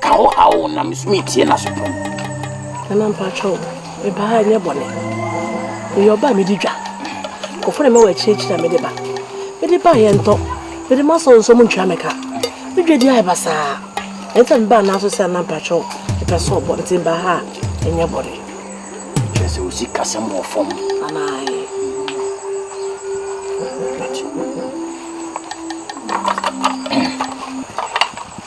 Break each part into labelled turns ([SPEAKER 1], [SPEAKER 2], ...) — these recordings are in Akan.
[SPEAKER 1] Ka wo haw na metumi atie n'asopam. Nana
[SPEAKER 2] mpakyɛw, meba ha nyɛ bɔne. Meyɛ ɔba a medi dwa. Kɔfrɛ me wɔ akyirikyiri a mede ba. Mede ba yɛ ntɔ. Mede ma sɔn nsɔm ntua me ka. Me dwa di ayɛ basaa. Ɛnta me ba n'aso sɛ nana mpakyɛw mepɛ sɛ ɔbɔ nti meba ha a nyɛ bɔne. Kyerɛ sɛ
[SPEAKER 1] osi kasɛm wɔ fam. Anaaye.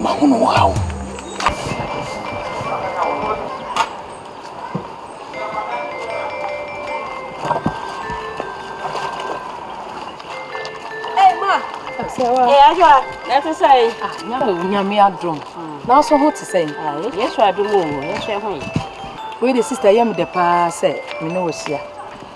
[SPEAKER 3] Mahunu wo haw. Nyame
[SPEAKER 2] adom nanso ho te sɛ yɛsɔ adom
[SPEAKER 3] o yɛsɔ ho yi wei de
[SPEAKER 2] sista yɛ me dɛ paa sɛ me ne wahyia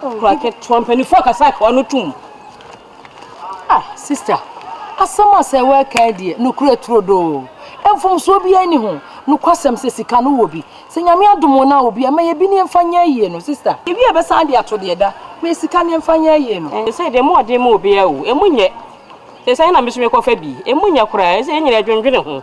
[SPEAKER 4] Kura
[SPEAKER 3] ketewa mpanyinfoɔ akasa akewa no tum. Ah
[SPEAKER 2] sister asɛm a sɛ wɛka deɛ nokura turodoo mfomsoɔ biara ni ho nokwasɛm sɛ sika no wɔ bi sɛ nyame adomo na wɔ bi a ma yɛ bi ne mfa nyɛ ayie no sister. Ebi a bɛsan de ato deɛ da ma yɛ sika ne mfa nyɛ ayie no. Ɛnsɛ deɛ moɔden ma obiara
[SPEAKER 3] o ɛmu nyɛ sɛ sɛ ɛna meso mekɔ fa bi ɛmu nyɛ koraa ɛsɛ yɛ nyina ɛdwendwene ho.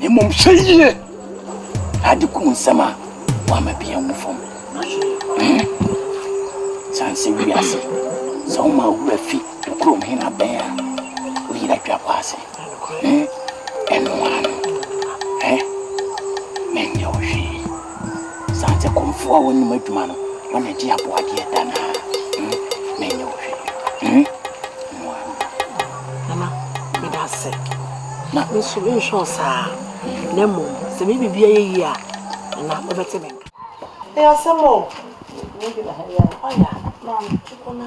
[SPEAKER 1] Na mmom hwɛ yie na ade kum nsɛm a woama bi anwu fam. Hmm. Sane sɛ wiase, sɛ woma wura fi wo kurom he na bɛn a, woyera twa kɔ ase. Hmm. Ɛno ano. Eh? Menyɛ wo hwee. Saa dze kɔmfoɔ a ɔnnyim adwuma no, hɔn na gye aboadeɛ da no ara, hmm, na ɛnyɛ wo hwee,
[SPEAKER 2] hmm, mmoa no.
[SPEAKER 1] Nana,
[SPEAKER 2] meda ase. Na me nso menhwɛ wo saa, na mmom sɛ me biribi ayɛ yie a, Nana, wobɛte me nka. Ɛyɛ asɛm o. Ɔya, maame, kɔ na.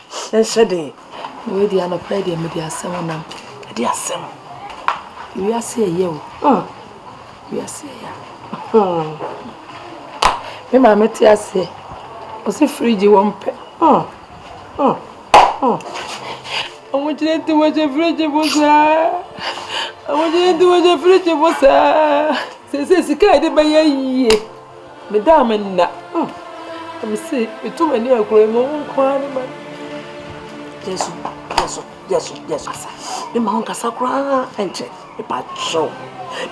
[SPEAKER 2] nhyɛ den. Na wei deɛ anɔpa yi deɛ mede asɛm nam. Ɛde asɛm. Wiase ɛyɛ o. Hmm. Wiase ɛyɛ. Hmm. Me maame te aseɛ. Ɔsi firigye wɔ mpɛ. Hmm. Hmm. Hmm. Ɔmo gyina nti wɔhyɛ firigye mu saa. Ɔmo gyina nti wɔhyɛ firigye mu saa. Sese sika yɛde bɛyɛ yie. Me da a me nna oh Na me se me to m'ani agorɔ yi ma wo nko ara ne ma Yesu Yesu Yesu Yesu Asa me ma wo nkasa koraa ɛnkyɛ me pa kyɛw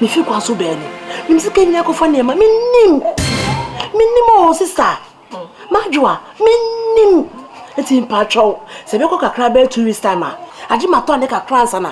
[SPEAKER 2] me fi kwan so bɛɛ ni Nim sika nyina kɔfa nneɛma me nim me nim o sista madwoa me nim Nti me pa kyɛw sɛ bɛkɔ kakra bɛɛ two weeks time a Agye ma tɔ ne kakra ansa na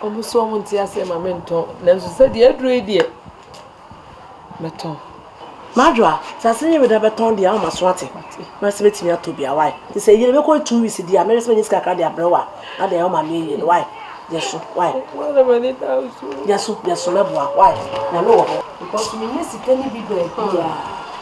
[SPEAKER 2] Wɔn se wɔn nte aseɛ ma me ntɔn, nanso sɛ deɛ aduro yi deɛ, mɛtɔn. Madwo a, sɛ ase nyɛ weda bɛtɔn deɛ a ma so ate. Mɛsɛ bɛtumi atɔ bi a, why? Te sɛ yie na bɛkɔ two weeks deɛ a, mɛsɛ bɛnya sika kakra deɛ abrɛ wo a, na deɛ wɔn ma me yie no, why? Yɛ so, why? Yɛ so, yɛ so mɛboa, why? Nyame wɔ hɔ. Because me nya sika ne bi baabi a,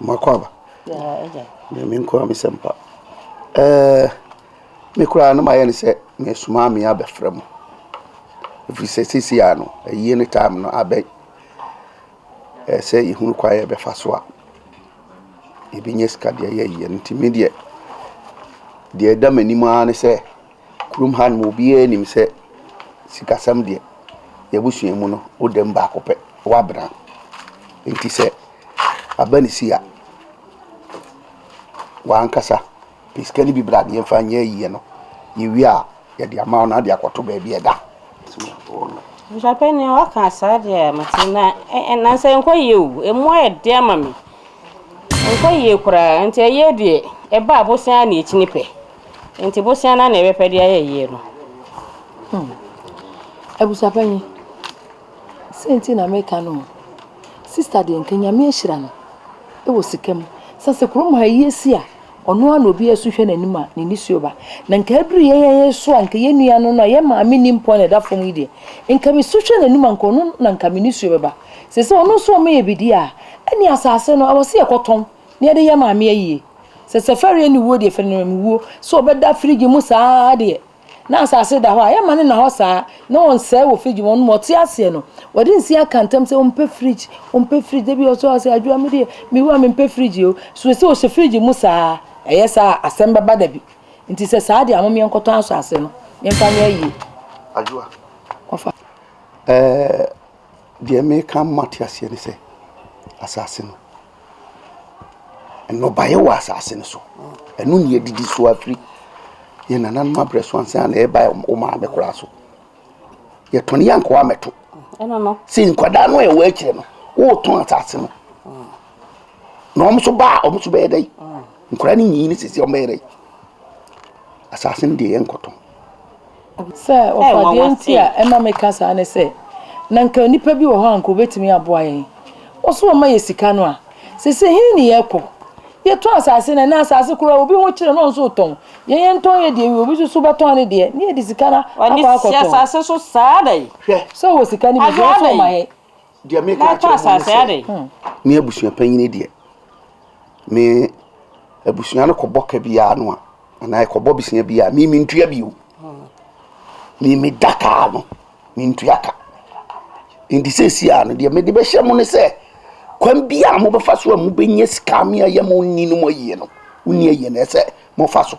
[SPEAKER 1] makɔ aba
[SPEAKER 3] me nkura me
[SPEAKER 1] sɛ mpa eh, me koraa no mayɛ ne sɛ mesomaa me abɛfrɛ mo ɛfiri sɛ sisi a no ayie ne time no abɛn ɛsɛ yɛhunu kwa yɛ bɛfa so a yɛbɛnya sika deɛ yɛyɛ no nti me deɛ deɛ ɛda m'anim ara ne sɛ Kurom ha nom obiara nim sɛ sikasɛm deɛ yɛabusua mu no wodam baako pɛ wabena nti sɛ aba ne si a wankasa pɛ sika no bi bra deɛ mfa nyɛ ayie no yɛwie a yɛde ama wo na ade akɔto baabi ɛda Nhyɛpɛ
[SPEAKER 3] nea waka saa deɛ mete na nansa ɛnkɔ yie o ɛmu ayɛ deɛ ama me ɛnkɔ yie koraa nti ɛyɛ deɛ ɛba abosea na ɛkyini pɛ Nti bosea na ne yere pɛ de ayɛ yie no. Hmm.
[SPEAKER 2] Abusuapanyin, sɛ nti na meka no sista deɛ nka nyame ahyira no wɔ sika mu sɛ sɛ kurom ha yi asi a ɔno a na obi asu hwɛ n'anim a ne ni suo ba na nka aduru yɛn yɛn so a nka yɛn nua no no a yɛn maame ni mpɔ na ɛda fam yi deɛ nka me su hwɛ n'anim a nka ɔno na nka me ni suo bɛba sɛ sɛ ɔno nso ɔmo yɛ bidie a ɛne asase no ɛwɔ se yɛkɔtɔn Ne yɛde yɛ maame ayie. Sɛ safari ɛne wuo deɛ fɛnɛ me wuo. Sɛ ɔbɛda fridge mu saa deɛ na asase da hɔ a yɛma no na hɔ saa na ɔnsɛe wɔ fridge mu ɔno ma ɔte aseɛ no ɔde nsi aka ntam sɛ ɔmpɛ fridge ɔmpɛ fridge da bi ɔsɔ ɔsɛ adwoa me deɛ me wu a mempɛ fridge o so ɛsɛ ɔhyɛ fridge mu saa ɛyɛ saa a asɛm bɛba da bi nti sɛ saa deɛ a mom yɛnkɔtɔ asase no yɛmfa nyɛ ayie adwoa
[SPEAKER 1] ɔfa
[SPEAKER 2] ɛɛ
[SPEAKER 1] deɛ meka ma te aseɛ ne sɛ asase no Nnɔbaeɛ wɔ asase no so. Ɛno na yɛdidi so ara firi yɛn nananom aberɛ so ansa na ɛreba wo maame koraa so. Yɛtɔn yɛn nkoa mɛto. Sɛ
[SPEAKER 3] nkwadaa no a
[SPEAKER 1] ɛwɔ akyire no, wotɔn asase no. Na wɔn nso baa wɔn nso bɛyɛ dɛ. Nkwadaa no nyiyi ne sisi wɔn bɛyɛ dɛ. Asase no deɛ yɛn nkɔtɔn.
[SPEAKER 2] Sɛ ɔfa deɛ nti a ɛma meka saa ne sɛ, na nka nnipa bi wɔ hɔ a nka wɔbɛtumi aboa yɛn. Wɔso wɔma yɛ sika no a, seesei he ne yɛrekɔ? Yɛtɔn asase no a, na asase koraa obi ho kyere no a ɔnso retɔn. Yɛn yɛntɔn yɛ deɛ wie, obi nso so bɛtɔn ne deɛ na yɛde sika no akɔ akɔtɔn.
[SPEAKER 3] Hwɛ, sɛ ɔwɔ sika
[SPEAKER 2] no bi nso a ɔnso mma yɛn. Deɛ mereka
[SPEAKER 1] akyerɛ
[SPEAKER 3] mo ne sɛ, me abusuapanyini
[SPEAKER 1] deɛ, me abusua no kɔbɔ ka bi ara no a, anaa ɛkɔbɔ bosea bi a, me mentua bio. Me meda kaa no, mentua ka. Nti seesie a no deɛ mede bɛhyɛ mo ne sɛ, kwan bi a mobɛfa so a mobɛnya sika me ayɛ mo nni no mo ayie no, wonni ayie no ɛsɛ mofa so.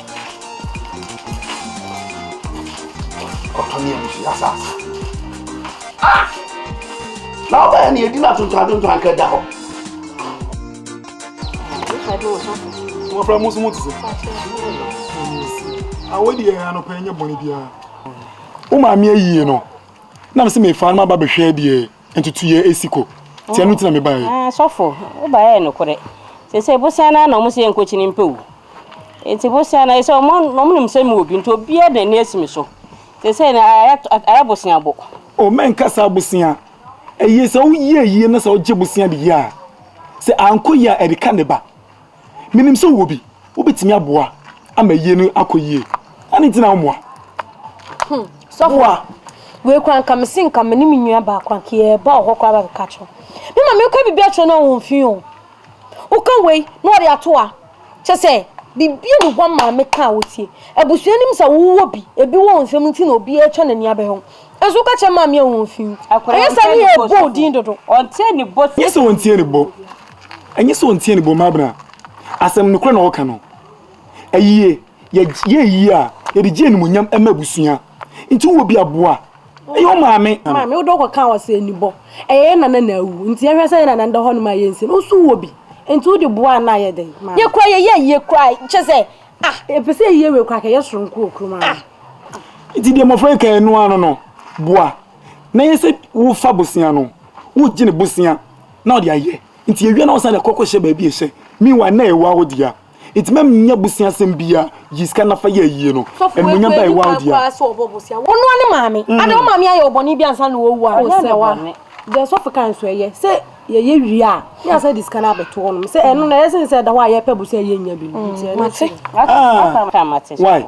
[SPEAKER 1] Ɔtɔne a nsu asase. Ah! Na ɔbɛyɛ ne yɛdi no atontoa atontoa nka da hɔ.
[SPEAKER 5] Wɔfrɛ mo nso mo te sɛ. Awɔ deɛ anɔpa ɛnyɛ bɔne biara. Wo maame ayie no, na me sɛ mefa no ma ba bɛhwɛ deɛ. Ntutuiɛ ɛsi kɔ nti ɛno nti na me baeɛ. Ah sɔfo wo baeɛ yɛ
[SPEAKER 3] nokorɛ sesei bosea no ara na ɔmo se yɛ nkɔ kyini mpɛ o nti bosea no ɛsɛ ɔmo ɔmo nim sɛ me wɔ bi nti obiara de n'ani asi me so sesei no ayɛ ayɛ bosea bɔ. Oh mɛ nka saa
[SPEAKER 5] bosea ɛyie sɛ wo yie yie na sɛ wo gye bosea de yie a sɛ ankɔ yie a ɛde ka ne ba. Minim sɛ wowɔ bi. Wobɛtumi aboa ama ayie no akɔ yie. Adɛn nti na wommoa? Hmm, sɔfo. Boa.
[SPEAKER 4] Wei kora nka me se nka me ne me nua baako anka yɛba wɔ hɔ koraa ba bɛka kyerɛ me ma meka biribi akyerɛ no a wɔn fi o. Woka wei na wɔde ato a kyɛ sɛ biribi a ne hɔ maa meka a wɔtie. Abusua nim sɛ wowɔ bi, ebi wɔ wo nsam nti na obiara atwa n'ani abɛhwɛ wo. Nanso woka kyerɛ maame a wɔn fi. Ɛyɛ saa ne yɛ ɛbɔ wo din dodo. Nyɛ
[SPEAKER 3] sɛ wɔntie ne bo.
[SPEAKER 5] Ɛnyɛ sɛ ɔnteɛ ne bɔmma abena. Asɛm nokorɛ na ɔka no. Ayie, yɛ yɛ ayie a, yɛde gye animuonyam ma abusua. Nti wowɔ bi a, boa. Ɛyɛ wo maame. Maame, wode wokɔkaa hɔ
[SPEAKER 4] sɛ anibɔ. Ɛyɛ yɛ nana na awu. Nti yɛnhwɛ sɛ yɛ nana nda hɔnom a yɛnsi no. Wonso wowɔ bi. Nti wode boa a na ayɛ dɛn? Maame. Yɛ koraa yɛyɛ ayie koraa. Kyerɛ sɛ, ah. Yɛpɛ sɛ ayie wei koraa ka yɛ soronko wɔ kurom ha no. Nti
[SPEAKER 5] deɛ mmɔfra yi kaeɛ no ara no no, boa. Na ɛnyɛ sɛ wofa bosea no, wogye ne bosea. na ɔde ayɛ nti yɛwie na ɔsan de kɔ kɔhyɛ baabi ɛhyɛ meanwhile na ɛyɛ wawo dea nti mɛm nyɛ bosea asɛm bia yi sika na fa yɛ ayie no animonyam ba ɛyɛ wawo dea wɔnoa ne
[SPEAKER 4] maame mm. ade wo maame ayɛ ɔbɔne bi ansa na wɔwu a ɛnyɛ na wa deɛ sɔfo kan so ɛyɛ sɛ yɛyɛ wie a ne asɛ de sika no abɛto hɔ nom sɛ ɛno na ɛyɛ sene sɛ ɛda hɔ a yɛpɛ bosea yɛnya bi no nti ɛno
[SPEAKER 3] mm. why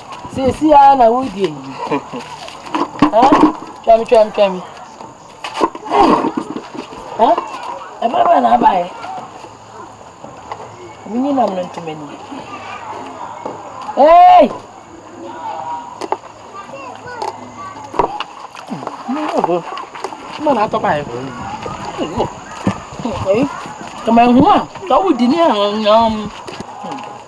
[SPEAKER 2] Seesei ara na woredi ayi. Hɛ? Twɛm twɛm twɛm. Ei! Hɛ? Ɛbɛrɛ bɛn na abaeɛ? Menyi nam no ntom ani. Ei! Mma na atɔ baeɛ. Ei! Kama ehu a, tɔ wo di ne ɛho nyam.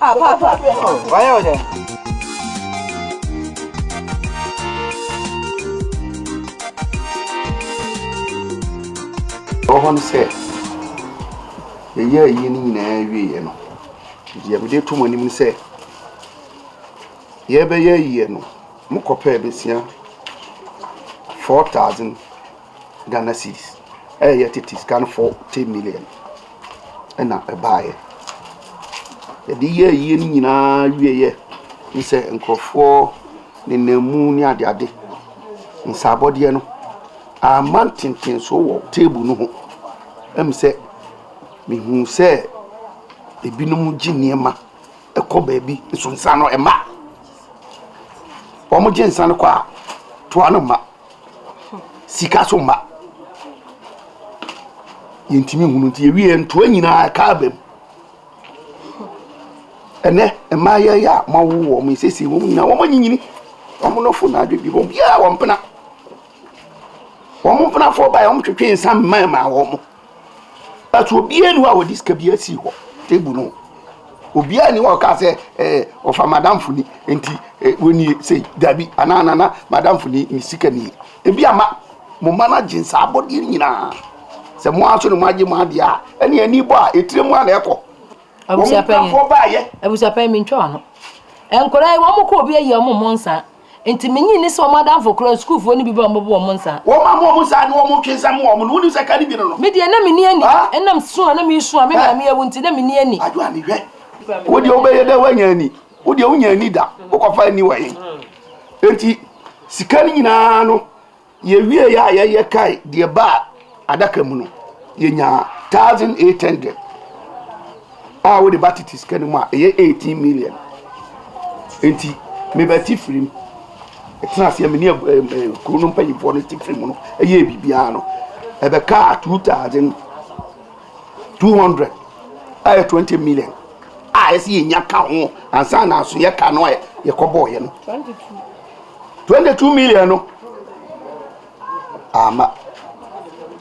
[SPEAKER 6] Ah
[SPEAKER 5] papa oh wayɛ wo dɛn. Ɔhɔ no sɛ yɛyɛ ayie no nyinaa wieɛ no deɛ mede to mo anim no sɛ yɛbɛyɛ ayie no mokɔpɛɛ bɛsia 4000 Ghana cedis a ɛyɛ tete sika no forty million ɛna ɛbaeɛ. Yɛde yɛ ayie no nyinaa wieɛ ne sɛ nkurɔfoɔ nenam mu ne adeade. Nsaabɔdeɛ no, amma ntentenso wɔ table no ho. Ɛm sɛ mehu sɛ ebinom gye nneɛma kɔ baabi nso nsa no ɛma. Wɔn gye nsa no kɔ a, toa no ma. Sika so mma. Yɛntumi nhunu nti yɛwie ntoa nyinaa ɛka aba mu. Ɛnɛ mmaa yɛ yɛ a mawo wɔn esiesie wɔn nyinaa wɔn anyinyini wɔn nɔfo na adwedwe wɔn biara wɔn mpena wɔn mpenafoɔ baeɛ wɔn twetwe nsa mmaa mmaa wɔn. But obiara nni hɔ a wɔde sika biara sii hɔ, table no ho. Obiara nni hɔ a ɔkaa sɛ, eh, wɔfa madamfo ni, nti eh, wɔnie sei, dabi, anaa nana, madamfo ni, ne sika nie. Ebi ama mo mma no agye saa abɔdeɛ no nyinaa. Sɛ mo ara nso ne mo agye mo adeɛ a, ɛne ani bɔ a, etire mu a na ɛkɔ. Wɔn mpanfoɔ baayɛ.
[SPEAKER 2] Abusuapɛn mi ntwa ano. Nkwadaa yi, wɔn kɔ obi ayi wɔn mmɔ nsa. Enti minnye nni sɛ wɔn adamfo koraa, sukuufo no bi ba a wɔbɛbɔ wɔn nsa. Wɔma mo wɔn nsa ne
[SPEAKER 1] wɔn twe nsɛm ma wɔn no, wunim sɛ kan bi no no. Me deɛ, na minni ani.
[SPEAKER 2] Ɛnam su a na misu a me maame awu nti, na minni ani. Adwoane,
[SPEAKER 1] hwɛ, wo deɛ wobɛyɛ dɛn woanya ani? Wo deɛ wunnya ani da, wokɔfa ani wɔ he? Enti sika no nyinaa no, Yɛwieeɛ a yɛyɛ kae deɛ baa adaka mu no, yɛnyaa thousand eight hundred a wode ba tete sika no mu a ɛyɛ eighteen million nti meba ti firim ɛtena aseɛ me ne kuro no mpanyinfoɔ no ti firim no ɛyɛ biribiara no ɛbɛkaa two thousand two hundred a ɛyɛ twenty million a ɛsɛ yɛnya ka ho ansa na aso yɛ ka no a yɛkɔbɔɔyɛ no Twenty two million no ama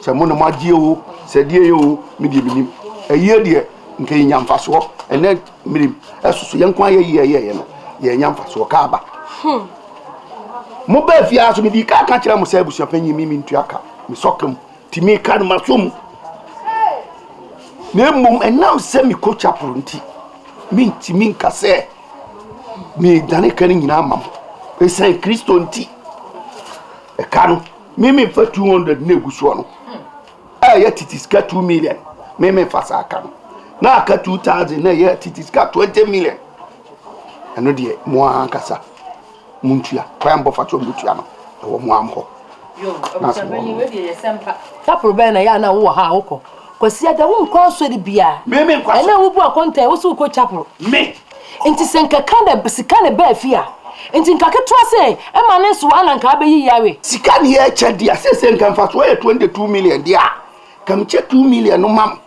[SPEAKER 1] sɛ mo na mo agye o sɛ deɛ yɛ o me deɛ menim ɛyie deɛ nka yɛnya mfasoɔ ɛnɛ mmirim ɛsoso yɛn nko ayɛ yie ɛyɛɛyɛ no yɛnya mfasoɔ ka aba hmm. mo bɛɛ fie ara so mede ka ka kyerɛ mo sɛ abusuapanyin mi mentua ka mesɔka mu nti meka no maso mu na mmom ɛnam sɛ mekɔ chapel nti mentumi nka sɛ Meedane ka no nyina ama mo esiane Kristo nti. Ɛka no, me memfa 200 na egu soɔ no a ɛyɛ tete sika 2 million, me memfa saa ka no. Na aka 2000 na ɛyɛ tete sika 20 million. Ɛno deɛ mo ara ankasa. Montua, kwan a mobɛfa so abetua no, ɛwɔ mo ara mo hɔ.
[SPEAKER 2] Sapro bɛn na ɛyɛ a na wowɔ ha a wokɔ? Kwasiada, wonkɔ asɔre biara. Me, menkɔ asɔre. Ɛnna a wubu akontaa yi,
[SPEAKER 1] wose
[SPEAKER 2] wokɔ chapel. Me. Enti sɛ nka ka na sika na ɛbaa fie a, enti nka ketewa sɛn ɛma ne nsow ara na nka abɛyɛ yi awe? Sika ne yɛkyɛ
[SPEAKER 7] deɛ, seesei nka mfasoɔ yɛ twenty two million deɛ a, nka mekyɛ two million no ma mo.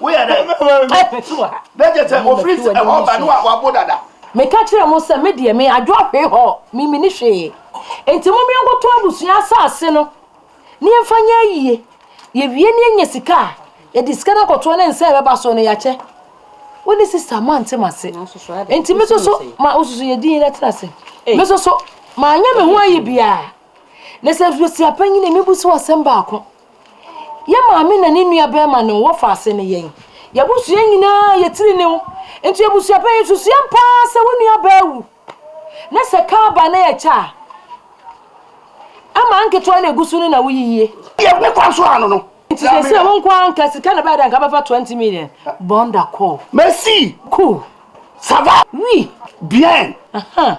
[SPEAKER 7] Woyɛ dɛn? Carpet wɔ ha. Na kyerɛ sɛ ofiri sɛ ɛhɔ ba no a wabo dada. Meka kyerɛɛ mo
[SPEAKER 2] sɛ me deɛ me adwoahwee hɔ me mini hwee. Enti momeɛ nkɔtɔ abusua asaase no ne yɛmfa nyɛ ayie. Yɛwie ne yɛnya sika a, yɛde sika no akɔtoa ne nsa a ɛbɛba soɔ no yɛakyɛ. Wo ne sista moante mase. Enti me soso ma wososo yɛ din na tena se. Me soso maanyɛ me ho ayi biara. Na sɛ abusua panyini mebu so asɛm baako. Yɛn maame na ne nua bɛrima no wɔfa ase ne yɛn. Yɛabusua nyinaa yɛ tirinw. Enti abusuapanyin nso suam paa sɛ wo nua baa wu na sɛ ka ba na yɛkyɛ a, ama nketewa na egu so no na wo yiye. Yɛ me kwan so
[SPEAKER 7] ano no. Enti seesei wo nko ara
[SPEAKER 2] nka sika na ɛbɛyɛ dɛ nka bɛfa twenty million bɔn da kɔɔ. Merci. Cool. Ça va?
[SPEAKER 7] Oui. Bien. Ahaa.